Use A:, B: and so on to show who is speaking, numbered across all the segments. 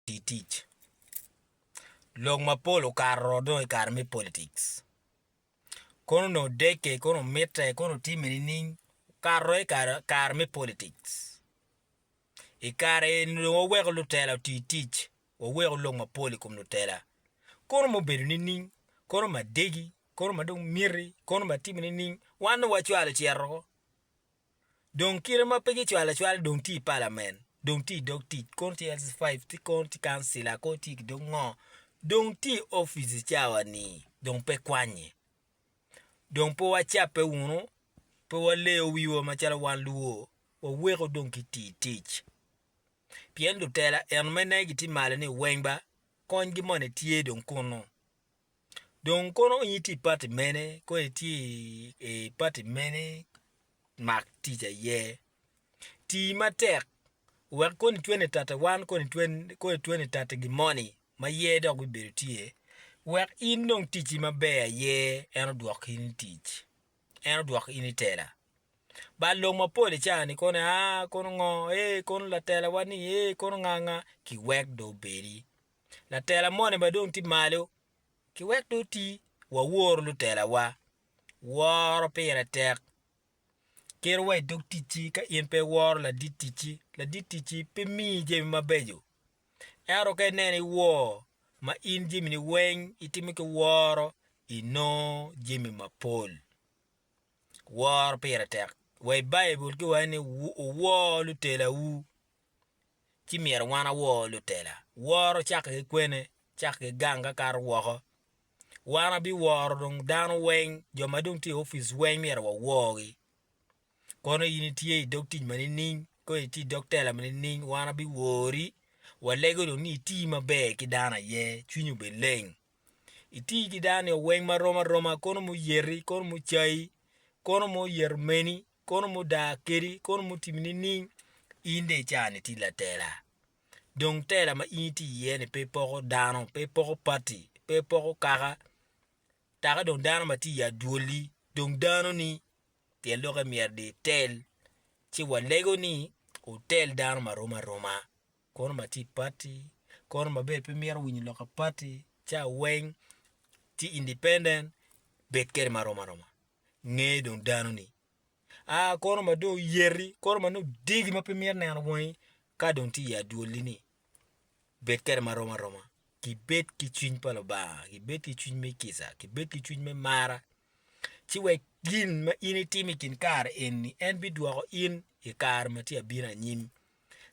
A: tii tic. Lok mapol okato ro dong i kare me politics kono onongo odekke kono omitte kono otimme nining okato ro i kare me politics i kare eni dong waweko lutela oti tic waweko lok mapol i kom lutela kono ma obedo nining kono ma degi kono ma dong miti kono ma timme nining wan dong wacwalo cito woko. dong kite ma pe gicwalo acwala dong tye i palamen dong tye i dog tic kono tye LC 5 ci kono tye kancila kono tye ki dong ngo dong tye i opic cawa ni dong pe kwanye dong pe wacape wunu pe waleyo wiwa macalo wan luo waweko dong ki tii tic pien lutela eno me negi tye malo ni weng ba konygi moni tye dong kunu. Dong kono in itye i pati mene kono itye i pati mene mak tic aye, ti matek wek kony twene i tati wan kony twene i tati gin moni ma ye dok bibedo tye wek in dong ticci maber aye en odwok in i tic en odwok in i tela ba lok mapol i caa ni kono aa kono ngo ee kono latela wa ni ee kono nga nga kiwek dong obedi Latela moni ma dong tye malo ki wek dong oti wawor lutelawa. Woro pire tek. Kerowa i dog ticci ka in pe iworo ladit ticci. Ladit ticci pe miyi jami mabeco. Ento ka ineno iwor ma in jamini weng itimo ki woro, inongo jami mapol. Woro pire tek. Wa i Baibul ki wani, Wuwor lutelawu. ci myero wan awor lutela. Woro cako ki kwene, cako ki gang ka kato woko. Wan abiworo dong dano weng, jo ma dong tye i opic weng myero waworgi. Kono in itye i dog tic ma nining, kono itye i dog tela ma nining, wan abiwori, walego dong ni iti maber ki dano aye, cwinyi obed leng. Iti ki dano nio weng ma rom aroma, kono muyeti, kono mucayi, kono muyeto meni, Kono mudaa kadi, kono mutimi nining? In dong i caa-ni itye latela. Dong tela ma in itye iye-ni pe poko dano, pe poko pati, pe poko kaka, taka dong dano ma tye i adwoli, dong danoni. Pien lokke myero dong itel. Ci walego ni wutel dano ma rom aroma. Kono ma tye i pati, kono ma bene pe mito winyo lok pa pati, caa weng tye independent, bed kwede ma rom aroma. nge dong dano ni a kono ma dong yeti kono ma dong degi ma pe mito neno wangi ka dong tye i adwoli ni bed kwede ma rom aroma ki bed ki cwiny pa lubanga ki bed ki cwiny me kica ki bed ki cwiny me mara ci wek gin ma in itimo i kin kare eni en bidwoko in i kare ma tye abino anyim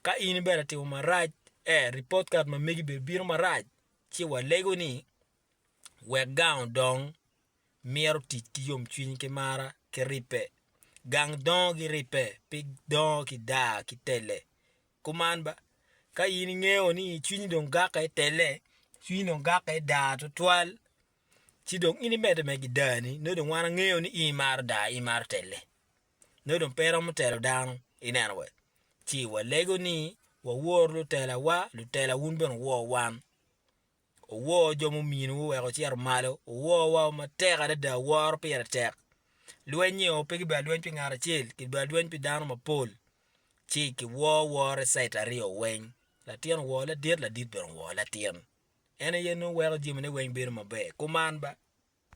A: ka in bene itimo marac e ripot kat ma megi bene bino marac ci walego ni Wek gang odong, myero otic ki yomcwiny ki mara ki ribbe. Gang dongo ki ribbe, pe dongo ki daa ki telle. Kuman ba, ka in ingeyo ni cwinyi dong gakke i telle, cwinyi dong gakke i daa twatwal, ci dong in imedde mere ki daani, nongo dong wan wangeyo ni in imaro daa, imaro telle. Nongo dong pe iromo telo dano, ineno wee? Ci walego ni wawor lutelawa, lutela wun bene wuwor wan. Wuwor jo mumiinu wuweko wucito malo, wuwor wa matek adada, woro pire tek. Lweny-nyi o, pe kibedo lweny pi ngat acel, kibedo lweny pi dano mapol, ci kiwor woro i cait aryo weng, latin owor ladit, ladit bene owor latin. En aye nongo weko jamine weng bedo maber. Kuman ba.